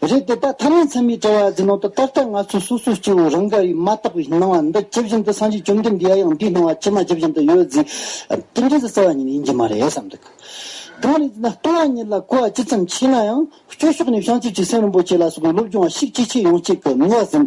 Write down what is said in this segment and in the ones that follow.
རེད་དེ་དག་ཐ་མའི་མཚན་མའི་དྲ་བ་ཡ་འཛིན་ནང་དུ་ད་ལྟ་ང་ཚོས་སོ་སོའི་སྐྱེ་བོ་རང་དགར་ཡིས་མ་བརྟགས་པའི་སྣང་བ་འདི་ཇི་བཞིན་དུ་སངས་རྒྱས་བཅོམ་ལྡན་འདས་ཡ་ཡང་འདིའི་སྣང་བ་ཇི་མ་ཇི་བཞིན་དུ་ཡོད་རྫིས་ཏེ་འདྲེས་སུ་གསལ་བ་ཉིད་ཡིན་གྱི་མ་རེད་བསམ་འདུག་གང་རེད་ཅེ་ན་ལྟུང་བ་ཉིད་ལ་གོ་བ་ཇི་ཙམ་ཆེ་ན་ཡང་སྐྱོ་ཤོག་ནས་བྱང་ཆུབ་ཀྱི་སེམས་རིན་པོ་ཆེ་ལ་སོགས་པའི་སློབ་སྦྱོང་བ་ཤིག་ཅི་ཆེ་ཡོང་ཆེད་དུ་ནུས་བ་ཟིན།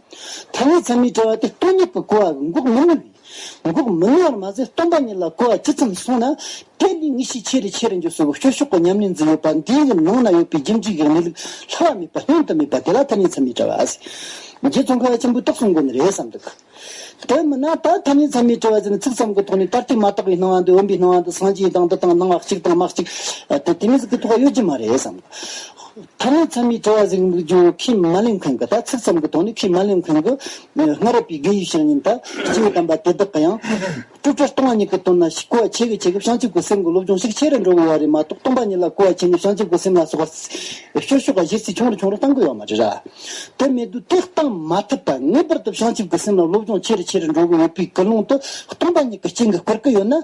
ཐ་མའི་མཚན་མའི་དྲི་བ་དེ་སྟོང་ཉིད་དུ་གོ་བ་འགོག་མི་ནུས། འགོག་མི་ནུས་པར་མ་ཟད་སྟོང་པ་ཉིད་ལ་གོ་བ་ཇི་ཙམ་སོང་ན། དེ་ནི་དངོས་གཞིའི་ཆེ་རུ་ཆེ་རུ་འགྱུར་སྲོལ་གྱི་བཤུ་གཞོག་གི་ཉམས་ལེན་འཛིན་ཡོད་པ་འདིའི་ནང་ན་ཡོད་པའི་རྒྱུན་གཅིག་གི་གནས་ལུགས་ལྷག་བ་མེད་པ་ཉུང་དུ་མེད་པ་དེ་ལ་ཐ་མའི་མཚན་མའི་དྲི་བ་ཟེར། རྗེ་ཙོང་ཁ་བ་ཆེན་པོས་རྟོགས་སོང་དགོས་ནི་རེད་བསམ་འདུག། དེ་མིན་ན་ད་ཐ་མའི་མཚན་མའི་དྲི་བ་ཟེར་ནི་ཚིག་ཙམ་གྱི་ཐོག་ནས་ད་ལྟའི་མ་རྟགས་པའི་སྣང་བ་འདི་འོན་པའི་སྣང་བ་འདི་སངས་རྒྱས་དང་འདི་དང་སྣང་བ་གཅིག་དང་མ་གཅིག་དེ་དེ་མིན་ཚིག་གི་ཐོག་ཡོད་ཀྱི་མ་རེད་བསམ་འདུག། ཐ་ན་མཚམས་མེད་ཐོ་བ་གཟིགས་མིག་ལྗོངས་ཁི་མཱ་ལིན་ཁན་གི་ད་ཚིག་ཙམ་གྱི་ཐོག་ནས་ཁི་མཱ་ལིན་ཁན་གྱི་སྔ་རབས་པའི་རྒན་ཡོལ་བཤགས་ཉིན་ད་ཅི་ཡོད་དམ་པ་དེ་དག་གི་ཡང། དཀྲུགས་ཕྲ་སྟོང་བ་ཉིད་ཀྱི་དོན་ལ་ཞིག་གོ་བ་ཆེ་གི་ཆེ་གི་བྱང་ཆུབ་ཀྱི་སེམས་ཀྱི་སློབ་སྦྱོང་ཤིག་ཆེ་རུ་འགྲོ་དགོས་བ་རེད་མ་གཏོགས་སྟོང་པ་ཉིད་ལ་གོ་བ་ཆེ་ནས་བྱང་ཆུབ་ཀྱི་སེམས་ལ་སོགས་པ་ཤོད་ཤོད་ག་གཞིར་ཚིག་ཆུང་རུ་ཆུང་རུ་གཏང་དགོས་བ་མ་རེད་ར། དེ་མེད་དུ་དེ་གཏང་མ་ཐུབ་པ་ངེས་པར་དུ་བྱང་ཆུབ་ཀྱི་སེམས་ལ་སློབ་སྦྱོང་ཆེ་རུ་ཆེ་རུ་འགྲོ་གི་ཡོད་པའི་སྐུལ་སློང་དུ་སྟོང་པ་ཉིད་ཀྱི་སྤྱན་གྱིས་བསྐུར་གི་ཡོད་ན།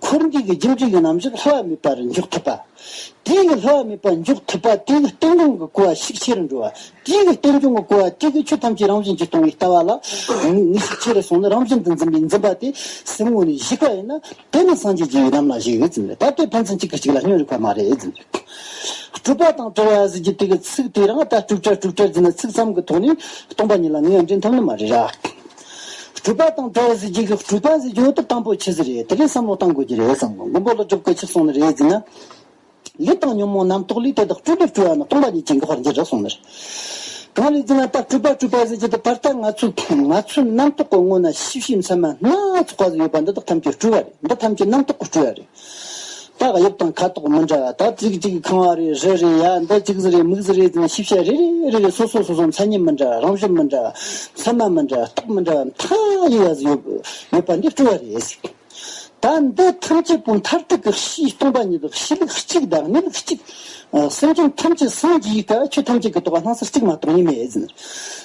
འཁོར་འདས་ཀྱི་རྒྱུ་འབྲས་ཀྱི་རྣམ་འཇོག་ལྷ་བ་མེད་པར་འཇོག་ཐུབ་པ། དེ་ཡི་ལྷ་བ་མེད་པར་འཇོག་ཐུབ་པ་དེ་ཡི་རྟེན་འབྱུང་གི་གོ་བ་ཤུགས་ཆེ་རུ་འགྲོ་བ། དེ་ཡི་རྟེན་འབྱུང་གི་གོ་བ་དེ་གིས་ཆོས་ཐམས་ཅད་རང་བཞིན་གྱིས་སྟོང་བའི་ལྟ་བ་ལ། ངེས་ཤེས་ཆེ་རུ་སོང་ནས་རང་བཞིན་དུ་འཛིན་པའི་འཛིན་པ་དེ་སེམས་ངོ་ནས་གཞིག་པ་ཡིན་ན། དེ་ནི་སངས་རྒྱས་ཀྱི་ཡི་དམ་ལ་གཞིགས་ཡོད་ཟེར་ནས་ད་ལྟའི་ཕན་ཚུན་གཅིག་གིས་གཅིག་ལ་སྙོན་རིགས་པ་མ་རེད་ཟེར་འདུག་སྤྲུལ་པ་དང་བྲལ་བ་ཟེར་གྱི་དེ་གི་ཚིག་དེ་རང་ད་སྤྲུག་བྲལ་སྤྲུག་བྲལ་ཟེར་ནས་ཚིག་མཚམས་ཀྱི་ཐོག་ནས་སྟོང་པ་ཉིད་ལ་ངེས་ཡང་འདྲེན་ཐུབ་ནི་མ་རེད་ར། གྲུབ་པ་དང་བྲལ་བ་ཟེར་གྱི་གྲུབ་པ་ཟེར་གྱི་འོ་དེ་དང་པོ་ཆེ་ཟེར་རེད་དེ་རིང་བསམ་བློ་བཏང་དགོས་ཀྱི་རེད་བསམ་གོ་མགོན་པོ་ལོ་བཅོ་བརྒྱད་ཕྱིར་སོང་ནི་རེད་ཟེར་ན། ལུས་དང་ཉོན་མོངས་རྣམ་རྟོག་ལུས་དེ་དག་སྤྲུལ་པས་སྤྲུལ་བ་ན་སྟོང་པ་ཉིད་ཅན་གྱི་བར་འགྱེད་རག་སོང་ནི་རེད། གང་རེད་ཟེར་ན་ད་གྲུབ་པ་གྲུབ་པ་ཟེར་གྱི་འདི་བར་ལྟར་ང་ཚོ་ང་ཚོའི་རྣམ་རྟོག་གི་སྔོན་ན་ཤེས་བྱའི་མཚན་མ་སྣ་ཚོགས་པ་ཟེར་ཡོད་པ་འདི་དག་ཐམས་ཅད་སྤྲུལ་བ་རེད་འདི་ཐམས་ཅད་རྣམ་རྟོག་གི་སྤྲུལ་བ་རེད། རྟགས་དབྱིབས་དང་ཁ་དོག་མི་འདྲ་བ་དག་རྩིག་གཅིག་ཁང་བ་རེ་རེ་རེ་ཡ་མདའ་གཅིག་གཟི་རེ་མིག་གཟི་རེ་དང་ཤེས་བྱ་རེ་རེ་རེ་རེ་སོ་སོ་སོ་སོ་མཚན་ཉིད་མི་འདྲ་བ་རང་བཞིན་མི་འདྲ་བ་མཚན་མ་མི་འདྲ་བ་རྟགས་མི་འདྲ་བ་མཐའ་ཡས་བ་ཡོད་ཡོད་པ་འདི་སྤྲོ་བ་རེད། ད་འདི་ཐམས་ཅད་པོ་མཐར་ཐུག་གི་གཞི་སྟོང་པ་ཉིད་དོ་གཞི་ལུགས་གཅིག་བདག་མེད་ལུགས་གཅིག། སེམས་ཅན་ཐམས་ཅད་སངས་རྒྱས་ཀྱི་བཀའ་ཆོས་ཐམས་ཅད་ཀྱི་རྟོགས་པ་སྣང་སར་གཅིག་མ་གཏོགས་གཉིས་མེད།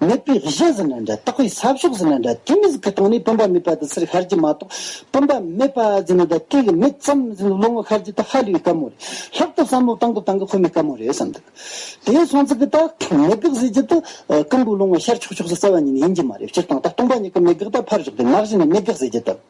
མེད་པའི་གཞི་ཟེར་ན་འདྲ་རྟག་པའི་ས་ཕྱོགས་ཟེར་ན་འདྲ་དེ་མི་ཟེར་གི་སྟེང་ནས་བུམ་པ་མེད་པ་དང་སེར་ཤར་གྱི་མ་གཏོགས་བུམ་པ་མེད་པ་ཟེར་ན་འདྲ་སྐད་ཀྱི་མེད་ཙམ་ཟེར་ན་ལོ་ངོ་ཤར་གྱི་ད་ཧ་ལོའི་དཀའ་མོ་རེད་ལྷག་ཏུ་བསམ་བློ་བཏང་དགོས་བཏང་གི་ཁོ་མི་དཀའ་མོ་རེད་བསམ་འདུག་དེ་ཡང་སོང་ཚིག་གི་རྟགས་མེད་དགག་ཟེར་རྒྱུ་དུ་ཀུན་དགུ་ལོ་ངོ་ཤར་ཆོག་ཆོག་ཟེར་རྩ་བ་ཉིད་ནས་ཡིན་གྱི་མ་རེད་སྤྱིར་བཏང་རྟགས་སྟོང་པ་ཉིད་ཀྱི་མེད་དགག་དང་ཕར་ཞོག་དེ་ནག་གཞི་ནས་མེད་དགག་ཟེར་རྒྱུ་དང།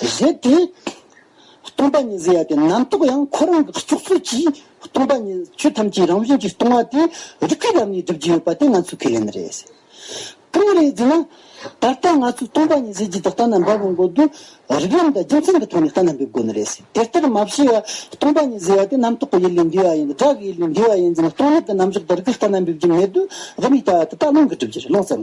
གཞན་དེ། སྟོང་པ་ཉིད་ཟེར་ཡ་དེ་རྣམ་རྟོག་ཡང་ཁོ་རང་གི་བཙུགས་ཚུལ་གྱིས་སྟོང་པ་ཉིད་ཆོས་ཐམས་ཅད་རང་བཞིན་གྱིས་སྟོང་བ་དེ་རིགས་པའི་ལམ་ནས་སྒྲུབ་ཀྱི་ཡོད་པ་དེ་ང་ཚོས་ཁས་ལེན་ནི་རེད། གང་རེད་ཟེར་ན། ད་ལྟ་ང་ཚོས་སྟོང་པ་ཉིད་ཟེར་གྱི་དེ་ལྟ་ན་འབབ་པའི་འགོ་དུ་རིགས་ལམ་དང་རྒྱུ་མཚན་གྱི་ཐོག་ནས་ལྟ་ན་འབེབས་དགོས་ནི་རེད། དེ་ལྟར་མ་བྱས་ཡ། སྟོང་པ་ཉིད་ཟེར་ཡ་དེ་རྣམ་རྟོག་གི་ཡུལ་ལས་འདས་པ་ཡིན་དགྲ་གི་ཡུལ་ལས་འདས་པ་ཡིན་ཟེར་ན་སྟོང་ལུགས་ཀྱི་རྣམ་གཞག་དེ་རིགས་ལྟ་ན་འབེབས་ཀྱི་མེད་དུ་རུ་མི་ལྟ་བ་དེ་ལྟ་ལོང་གིས་སྒྲུབ་རྒྱུ་རེད་ལོང་ཙམ།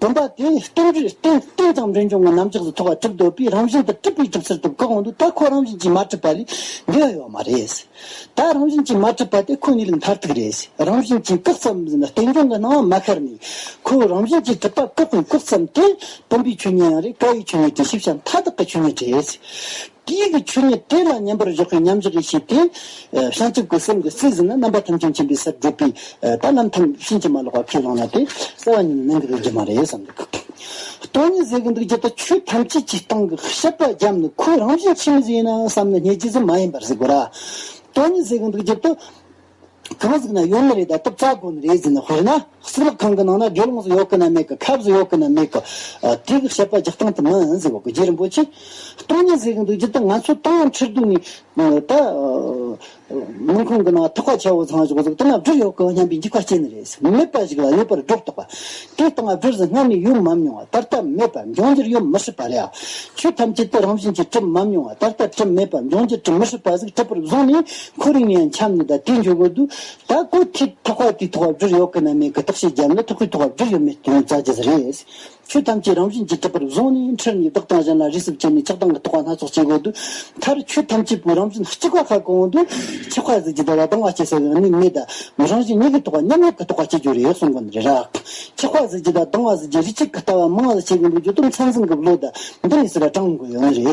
བུམ་པ་དེ་སྟོང་རྒྱུད་སྟེང་སྟེང་ཙམ་རིན་འབྱུང་གི་རྣམ་གཞག་ཏུ་ཐོགས་པ་གྲུབ་འདོད་པས་རང་བཞིན་དུ་གྲུབ་པའི་གྲུབ་ཚུལ་དུ་བཀག་འོང་དུས་ད་ཁོ་རང་བཞིན་གྱིས་མ་གྲུབ་པ་ལས་འདས་ཡོད་པ་མ་རེད། ད་རང་བཞིན་གྱིས་མ་གྲུབ་པ་དེ་ཁོ་གཉིས་ལས་མཐར་ཐུག་རེད། རང་བཞིན་གྱིས་བཀག་ཙམ་ཟེར་ན་བསྟན་འབྱུང་གི་སྣང་བ་མ་ཤར་ནས་ཁོའི་རང་བཞིན་གྱིས་གྲུབ་པ་བཀག་ནས་བཀག་ཙམ་དེ་བུམ་པའི་ཆོས་ཉིད་ཡང་རེད་བཀའ་ཡི་ཆོས་ཉིད་དེ་ཤེས་བྱ་མཐའ་དག་གི་ཆོས་ཉིད་རེད། དེའི་ཡུལ་གྱི་ཆོས་ཉིད་དེ་ལ་མཉམ་པར་འཇོག་མཁན་མཉམ་འཇོག་གིས་བྱས་ཏེ། བྱང་ཆུབ་ཀྱི་སེམས་ཀྱི་སྲིད་ཟིན་ན་རྣམ་པ་ཐམས་ཅད་མཁྱེན་པའི་སར་བགྲོད་པས། ད་རྣམ་ཐམས་ཕྱིན་ཅི་མ་ལོག་པར་ཁས་བླངས་ན་དེ་གསལ་བ་ཉིད་ནི་ནན་གྱིས་རིག་རྒྱུ་མ་རེད་བསམ་གྱི། སྟོང་ཉིད་ཟེར་གྱི་འདུག་རྒྱུ་དང་ཆོས་ཐམས་ཅད་ཀྱི་སྟེང་གི་ཤེས་པ་རྒྱབ་ནི་ཁོའི་རང་བཞིན་ཕྱི་མ་ཟིན་ཡིན་ན་བསམ་ན་ཉེས་བྱས་ཟིན་མ་ཡིན་པར་གཟིགས་དགོས་ལ། སྟོང་ཉིད་ཟེར་གྱི་འདུག་རྒྱུ་དང། གང་ཟིག་ན་ཡོད་ནི་རེད་ད་སྟབས་རྩ་དགོ་ནི་རེད་ཟིན་ནི་དཔེར་ན་སྲིད་ལག་ཁང་གི་ནང་ན་སྒྲོལ་ལོངས་སུ་ཡོད་གི་ན་མེད་གི་ཁབ་སུ་ཡོད་གི་ན་མེད་གི། དེ་གི་བཤད་པ་རྒྱག་སྟངས་དེ་མིན་ཟེར་བ་གོ་རྗེ་རིན་པོ་ཆེས། སྟོང་ཉིད་ཟེར་གི་འདུག་ཅི་ད་ང་ཚོ་སྟོང་ཉིད་ཁྲི་སྟོང་ཉིད། ད། དམུན་ཁང་གི་ནང་ཐུགས་ཀ་ཆེ་བོ་ཚང་ཞིག་གཟུགས་དེ་ན་བྲིས་ཡོད་གི་སྙམ་པའི་འཇིགས་པ་སྐྱེས་ནི་རེད་ཟེར་མེད་པ་ཞིག་ལ་ཡོད་པར་སྒྲོག་དོགས་པ། དེ་ལྟ་ང་བྲིས་ཟིན་སྔར་ནས་ཡོད་མམ་མྱོང་བ་ད་ལྟ་མེད་པ་འབྱུང་འགྱུར་ཡོད་མི་སྲིད་པ་རེད་ཨ། ཆོས་ཐམས་ཅད་དེ་རང་བཞིན་གྱིས་གྲུབ་མམ་མྱོང་བ་ད་ལྟ་གྲུབ་མེད་པ་འབྱུང་འགྱུར་གྲུབ་མི་སྲིད་པ་ཟིག་གྲུབ་པར་བཟུང་ནས་ཁོ་རིང་ཡང་འཁྱམ་ནས་ད་དེ་འཇོག་དགོས་འདུག་ད་སྐུ་ཐེག་ཐོག་བར་དུས་ཐོག་བར་འགྱུར་ཡོག་གི་ན་མེད་གི་དག་བཤད་རྒྱབ་ན་ཐུག་གི་ཐོག་བར་འགྱུར་ཡོ་མེད་དོན་རྩ་རྒྱ་ཟ་རེད། ཆོས་ཐམས་ཅད་རང་བཞིན་གྱིས་གྲུབ་པར་བཟུང་ནས་འཁྲུལ་ནས་བདག་དང་གཞན་ལ་རིས་སུབ་བྱས་ནས་ཆགས་སྡང་གི་ཐོག་བ་སྣ་ཚོགས་བྱེད་དགོས་འདུག་མཐར་ཆོས་ཐམས་ཅད་པོའི་རང་བཞིན་གཅིག་པ་ཁ་གང་འདུག་ཆོས་ཁ་ཟིག་ཅི་ད་བ་དང་བ་སྐྱེ་ས་ཡང་ནི་མེད་ད་རང་བཞིན་ཉིད་ཀྱི་ཐོག་བ་མཉམ་ཉིད་ཀྱི་ཐོག་བ་བྱེད་རྒྱུ་རེད་གསུང་གི་རེད་རག་ཆོས་ཁ་ཟིག་ཅི་ད་དང་བ་ཟིག་ཅི་རིགས་གཅིག་གི་ལྟ་བ་མང་ལ་བྱེད་གི་འདུག་ཇོ་དུམ་ཚང་ཚིང་གི་བློ་ད་འདི་ནས་སི་ར་དྲང་དགོས་ཡོ་ནི་རེད།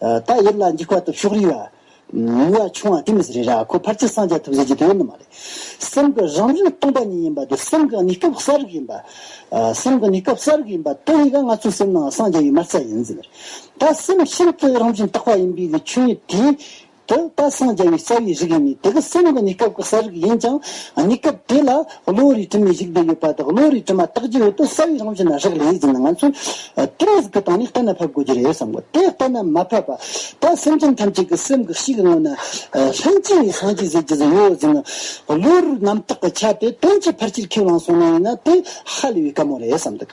ད་ཡིད་ལ་འཇིགས་པ་དང་ཤུགས་རིང་བ། མི་བ་ཆུང་བ་དེ་མི་རེད་ར་ཁོ་ཕར་ཚད་སངས་རྒྱ་ཐུབ་ཟེར་གྱི་དེ་ཡོད་ནི་མ་རེད། སེམས་ཀྱི་རང་བཞིན་སྟོང་པ་ཉིད་ཡིན་པ་དེ་སེམས་ཀྱི་ནི་སྐབས་གསལ་རིག་ཡིན་པ། སེམས་ཀྱི་ནི་སྐབས་གསལ་རིག་ཡིན་པ་དེ་ཡི་ག་ང་ཚོའི་སེམས་ནའང་སངས་རྒྱ་ཡི་མར་ཚད་ཡིན་ཟེར། ད་སེམས་ཤིན་ཏུ་རང་བཞིན་རྟག་པ་ཡིན་པའི་གི་ཆོས་ཉིད་དེ། དེ་ད་སངས་རྒྱ་བའི་རྩ་བའི་རིག་ཡིན་ནི་དེ་གི་སེམས་ཀྱི་ནི་སྐབས་ཀྱི་གསལ་རིག་ཡིན་ཅིང་ནི་སྐབས་དེ་ལ། བློ་རིག་དྲི་མའི་གཞིག་ལྡན་ཡོད་པ་དང་བློ་རིག་དྲི་མ་བརྟག་རྒྱུ་ཡོད་དུས་རྩ་བའི་རང་བཞིན་ལ་རག་ལས་ཡོད་ཅེ་ན་ང་ཚོས་དྲི་མ་ཟིག་གི་སྟེང་ནས་གཏན་ལ་ཕབ་དགོས་ཀྱི་རེད་བསམ་གོ་དེ་གཏན་ལ་མ་ཕབ་པར་ད་སེམས་ཅན་ཐམས་ཅད་ཀྱི་སེམས་ཀྱི་གཤིས་ཀྱི་ངོས་ནས་ལྷན་སྐྱེས་ནས་སངས་རྒྱས་ཟེར་གྱི་ཟིག་ཡོད་ཟིག་ན་བློ་རིག་རྣམ་དག་གི་ཆ་དེ་དོན་གྱི་ཕར་ཕྱིར་ཁས་བླངས་སོང་ན་ཡིན་ན་དེ་ཧ་ལས་པའི་བཀའ་མོ་རེད་བསམ་འདུག།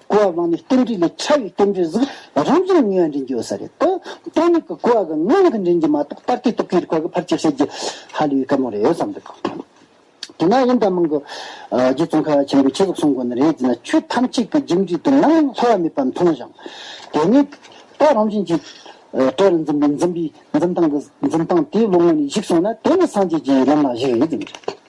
ཀུ་བ་བང་ནི་ལྟེམ་འབྲི་ལས་ཕྲ་བའི་ལྟེམ་འབྲིར་གཟུགས་རང་བྱུང་ནུས་པ་འདྲེན་རྒྱུ་ཡོད་ས་རེད་དོ། སྟོང་ཉིད་ཀྱི་ཀུ་བ་གི་ངོས་ནས་ཀྱི་འདྲེན་རྒྱུ་མ་གཏོགས་ལྟར་ཏེ་སྟོབས་ཀྱི་རིགས་པ་གི་ཕར་ཆེར་བཤད་རྒྱུ་ཧ་ལས་པའི་སྐད་མོ་རེད་ཡོད་བསམ་འདུག། དེ་ན་ཡིན་ད་མང་གི། རྗེ་བཙུན་ཁ་བ་ཆེན་པོས་ཆེ་བཙུགས་གསུངས་དགོས་ནི་རེད་ཅེ་ན་ཆོས་ཐམས་ཅད་ཀྱི་རྒྱུ་འབྲས་དུ་ནམ་ཡང་ལྷོ་བ་མེད་པར་མཐོང་ཞིང། དེ་ནས་ད་རང་བྱུང་གི། སྤྲེལ་ལ་འཛིན་པའི་འཛིན་པའི་འཛིན་སྟངས་ཀྱི་འཛིན་སྟངས་དེའི་ལོ་ངོ་ནས་གཞིགས་སོང་ན་དེ་ནི་སངས་རྒྱས་ཀྱི་ལམ་ལ་གཞིགས་ཡོད་ཀྱི་མི་རེད།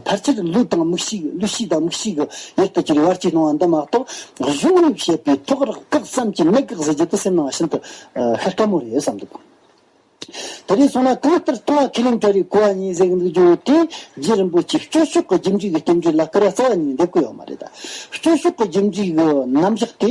ཕལ་ཆེར་གླུ་དང་མིག་ཤིག་གླུ་ཤིག་དང་མིག་ཤིག་གི་ཡུལ་དུ་གྱུར་བར་ཅི་གནང་བ་འདི་མ་གཏོགས་གཞུང་ལུགས་བཤད་པའི་ཐོག་རགས་བཀག་བསམ་གྱིས་མི་དགག་ཟེར་རྒྱུ་དེ་སེམས་ནང་ཤིན་ཏུ་ཤ་སྐམ་མོ་རེད་བསམ་འདུག་དེ་རིང་སོང་ན་གང་ལྟར་ལྟུང་བ་ཁས་ལེན་གྲ་རེའི་གོ་བ་གཉིས་གཟེགས་འདུག་རྒྱུ་དེ་རྗེ་རིན་པོ་ཆེས་སྐྱོ་ཤུགས་ཀྱི་ཁྱིམ་རྒྱུད་ཀྱི་རྟེན་འབྲེལ་ལ་སྐུར་བ་རྩ་བ་ཉིད་འདེབས་ཀྱི་ཡོད་མ་རེད་ད། སྐྱོ་ཤུགས་ཀྱི་ཁྱིམ་རྒྱུད་ཀྱི་རྣམ་གཞག་དེ་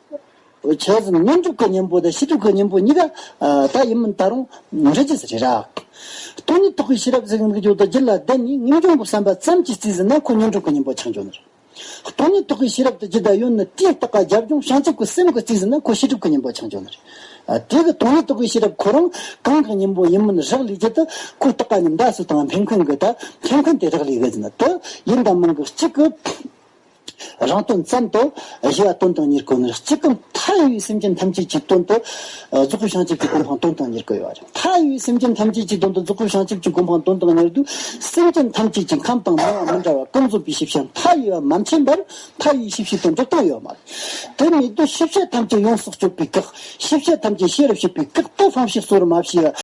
བྱས་ཙང་སྙོམས་འཇུག་གི་གཉེན་པོ་དང་ཤེས་སྒྲིབ་ཀྱི་གཉེན་པོ་གཉིས་ཀ་ད་ཡིན་མིན་ད་རུང་མི་རིག་ཅེས་རེད། སྟོང་ཉིད་རྟོགས་པའི་ཤེས་རབ་གཟུགས་སྙིང་རྗེ་བདག་གི་ལ་བདེ་ནི་སྙིང་རྗེ་འགོག་བསམ་པ་ཙམ་གྱིས་བརྩིས་ཟིན་ན་ཁོ་སྙོམས་འཇུག་གི་གཉེན་པོ་ཆང་འཇོག་ནི་རེད། སྟོང་ཉིད་རྟོགས་པའི་ཤེས་རབ་དང་ཇི་ལྟར་ཡོད་ནི་དེ་ལྟ་ཀ་རྒྱབ་ལྗོངས་བྱང་ཆུབ་ཀྱི་སེམས་ཀྱིས་བརྩིས་ཟིན་ན་ཁོ་ཤེས་སྒྲིབ་ཀྱི་གཉེན་པོ་ཆང་འཇོག་ནི་རེད། དེ་གི་སྟོང་ཉིད་རྟོགས་པའི་ཤེས་རབ་ཁོ་རང་གང་གི་གཉེན་པོ་ཡིན་མིན་རག་ལས་ཀྱི་དུ་ཁོ་ལྟ་ཀ་ཉམས་དགའ་སུ་དང་ཕན་ཁུན་གི་དང་ཕན་ཁུན་དེ་རག་ལས་གི་ཟིན་ན་དུ་ཡིན་དང་མིན་གྱི་གཅིག་གི་རང་དོན་ཙམ་དུ་གཞི་བ་སྟོན་དང་གཉེར་དགོས་ནི་གཅིག་གམ་མཐའ་ཡས་པའི་སེམས་ཅན་ཐམས་ཅད་ཀྱི་དོན་དུ་རྫོགས་སྐུ་བྱང་ཆུབ་ཀྱི་གོ་འཕང་སྟོན་དང་གཉེར་དགོས་པ་རེད། མཐའ་ཡས་པའི་སེམས་ཅན་ཐམས་ཅད་ཀྱི་དོན་དུ་རྫོགས་སྐུ་བྱང་ཆུབ་ཀྱི་གོ་འཕང་སྟོན་དང་གཉེར་དུས་སེམས་ཅན་ཐམས་ཅད་ཀྱི་ཁམས་དང་སྣང་བ་མི་འདྲ་བ་ཀུན་རྫོབ་པའི་ཤེས་བྱ་མཐའ་ཡས་པ་མ་མཁྱེན་པར་མཐའ་ཡས་ཤེས་བྱའི་དོན་འགྲོ་སྟངས་ཡོད་མ་རེད། དེ་མེད་དུས་ཤེས་བྱ་ཐམས་ཅད་ཡོངས་སུ་གཅོད་པའི་བཀག་ཤེས་བྱ་ཐམས་ཅད་ཤེས་རབ་བྱེད་པའི་བཀག་རྟོག་ལྷག་ཤེས་གསོ་རུ་མ་བྱས